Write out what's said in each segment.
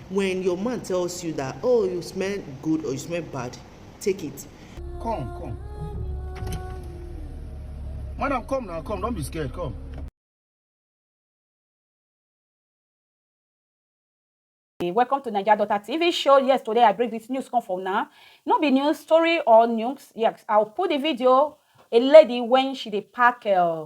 When your man tells you that, oh, you smell good or you smell bad, take it. Come, come. Madam, come now, come. Don't be scared, come. welcome to naija daughter tv show yes today i bring this news come from now no be news story or news yes i'll put the video a lady when she dey pack uh,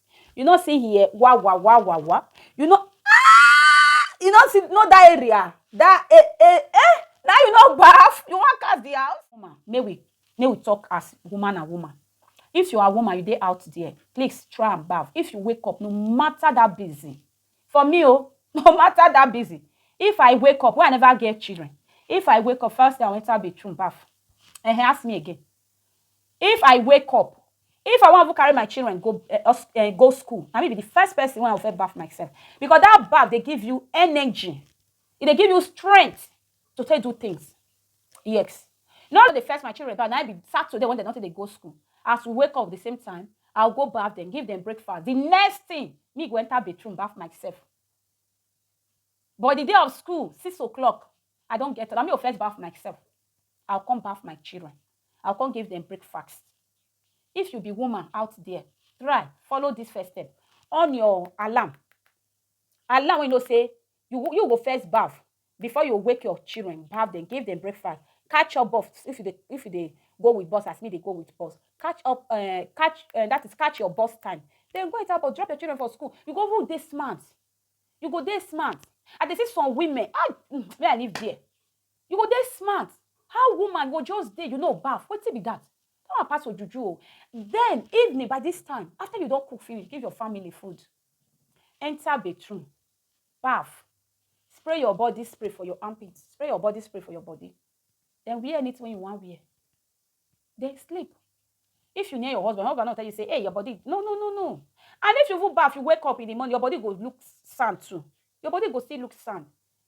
You no see here wa wa wa wa wa. You no ah! You no see no that area. That eh eh eh. Now you no bath. You want cast the house? Woman, may we may we talk as woman and woman. If you are a woman, you dey out there. Please try and bath. If you wake up, no matter that busy. For me, oh, no matter that busy. If I wake up, why I never get children? If I wake up, first thing I enter bedroom bath. And he ask me again. If I wake up, if I wan even carry my children go eh, eh, go school, na me be the first person wey I go first baff myself because that baff dey give you energy, e dey give you strength to take do things. Yes, no dey first my children baff, na be Saturday when dem don take dey go school. As we wake up the same time, I go baff dem, give dem breakfast. The next thing, me go enter bathroom baff myself. But the day of school, six o'clock, I don get up, na me go first baff myself. I go come baff my children, I go come give dem breakfast. If you be woman out there, try follow this first step. On your alarm. Alarm when you know say you, you go first baff before you wake your children, baff them, give them breakfast. Catch up buff if you dey, if you dey go with bus as me dey go with bus. Catch up, uh, catch uh, that is catch your bus time. Then go enter bus, drop your children for school. You go even dey smart. You go dey smart. I dey see some women. Ah, mm, may I live there. You go dey smart how woman go just dey you no baff wetin be that that one pass ojuju o then evening by this time after you don cook finish give your family food enter bathroom baff spray your body spray for your armpit spray your body spray for your body then wear anything wey you wan wear then sleep if you near your husband husband no tell you say hey your body no no no no and if you even baff you wake up in the morning your body go look sand too your body go still look sand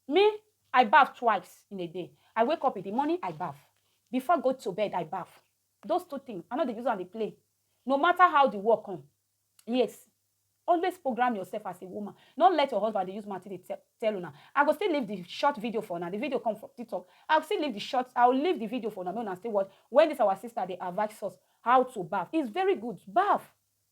Me I baff twice in a day I wake up in the morning I baff before I go to bed I baff those two things I no dey use am dey play no matter how the work come yes always program yourself as a woman no let your husband dey use mouth take dey tell una I go still leave the short video for una the video come from tiktok I go still leave the short I will leave the video for una make una still watch when this our sister dey advice us how to baff it's very good baff.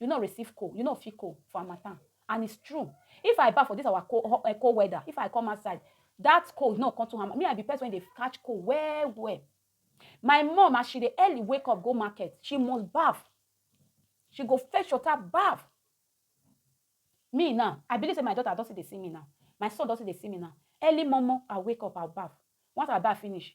You no receive cold, you no feel cold for harmattan and it's true. If I baff for this our cold, ho- eh, cold weather, if I come outside, that cold no come to harmattan. Me, I be person wey dey catch cold well well. My mom, as she dey early wake up go market, she must baff. She go fetch water, baff. Me now, I believe say my daughter don still dey see me now. My son don still dey see me now. Early momo, I wake up, I'll baff. Once I baff finish,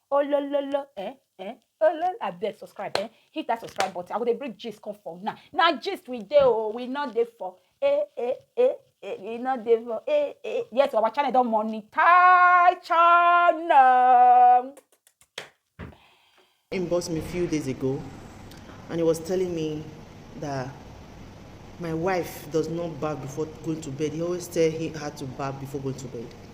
olololo eh eh olol abeg subscribe eh hit that subscribe button i go dey bring gist come for una na gist we dey o oh, we no dey for eh eh eh eh we no dey for eh eh yes our channel don monetize channel. inbox me a few days ago and he was telling me that my wife does not bath before going to bed he always tell her to bath before going to bed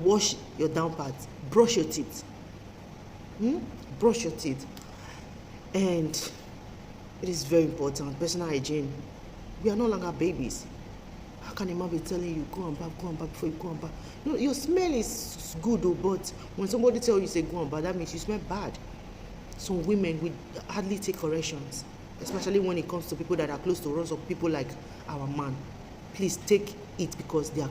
wash your down part brush your teeth hmm? brush your teeth and it is very important personal hygiene we are no longer babies how can a man be telling you go and bath go and bath before you go and bath no your smell is good o oh, but when somebody tell you say go and bath that means you smell bad some women we hardly take corrections especially when it comes to people that are close to us or people like our man please take it because they are